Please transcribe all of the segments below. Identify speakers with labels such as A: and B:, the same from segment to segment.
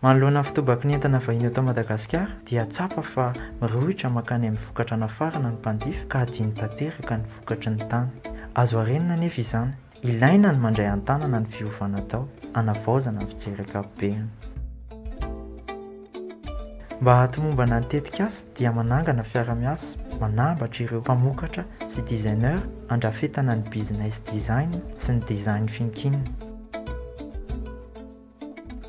A: Manoloana ny fitobaky ny entana vahiny eto Madagasikara dia tsapa fa mirohotra mankany amin'ny vokatra nafarana ny mpanjifa ka adino tanteraka ny vokatry ny tany. Azo arenina anefa izany. Ilaina ny mandray an-tanana ny fiovana atao hanavaozana ny fijery ankapobeny. Mba hahatomombana ny tetikasa dia manangana fiara-miasa manambatra ireo mpamokatra sy designer handrafetana ny business design sy ny design thinking.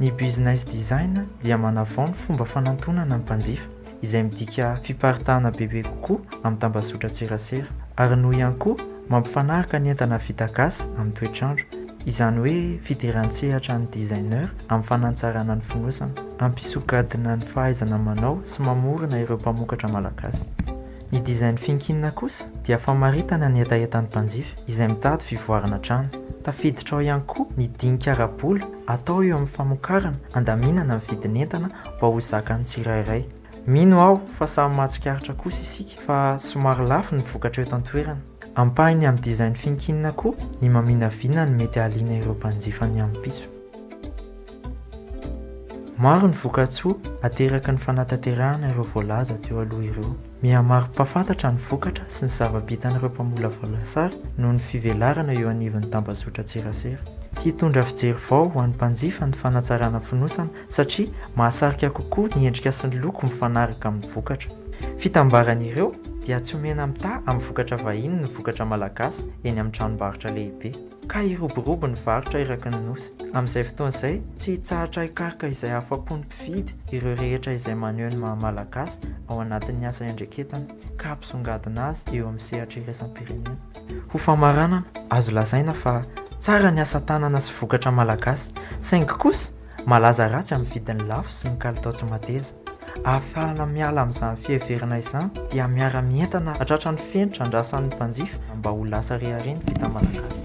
A: Ny Business Design dia manavao ny fomba fanantonana ny mpanjifa, izay midika fiparitahana bebe kokoa amin'ny tambazotran-tserasera, ary noho ihany koa mampifanaraka ny entana vita gasy amin'ny toetr'andro, izany hoe fidiran-tsehatra an'ny designer amin'ny fanatsarana ny fonosana, hampisongadina ny fahaizana manao sy mamorona ireo mpamokatra malagasy. Ny dizain'ny finkinina kosa dia famaritana ny hetahetan'ny mpanjifa izay mitady fivoarana trano. Tafiditra ao ihany koa ny dinika ara-bola atao eo amin'ny famokarana handaminana ny vidin'entana mba ho zakan'ny tsirairay. Mino aho fa samy mahatsikaritra kosa isika fa somary lafo ny vokatra eto an-toerana. Ampahany amin'ny dizain'ny finkinina koa ny maminavina ny mety hahaliana ireo mpanjifa ny ampitso. Maro ny vokatsoa ateraky ny fanatanterahana ireo voalaza teo aloha ireo. Mihamaro mpahafantatra ny vokatra sy ny zava-bitan'ireo mpamolavola lasary noho ny fivelarana eo anivon'ny tambazotran-tserasera. Hitondra fijery vao ho an'ny mpanjifa ny fanatsarana fonosana satria mahasarika kokoa ny endrika sy ny loko mifanaraka amin'ny vokatra. Fitambaran'ireo dia tsy omena mitaha amin'ny vokatra vahiny ny vokatra malagasy eny amin'ny tranombarotra lehibe. ka hiroborobo ny varotra eraky ny Nosy. Amin'izay fotoana izay, tsy hitsahatra hikaroka izay afa-pon'ny mpividy ireo rehetra izay maneho ny maha-Malagasy ao anatin'ny asa iandreketana ka hampisongadina azy eo amin'ny sehatra iraisam-pirenena. Ho famaranana, azo lazaina fa tsara ny asa tanana sy vokatra Malagasy, saingy kosa malaza ratsy amin'ny vidiny lafo sy ny kalitao tsy mateza. Ahafahana miala amin'izany fiheverana izany dia miara-mientana hatratra ny fenitra andrasan'ny mpanjifa mba ho lasa rehareha ny vita malagasy.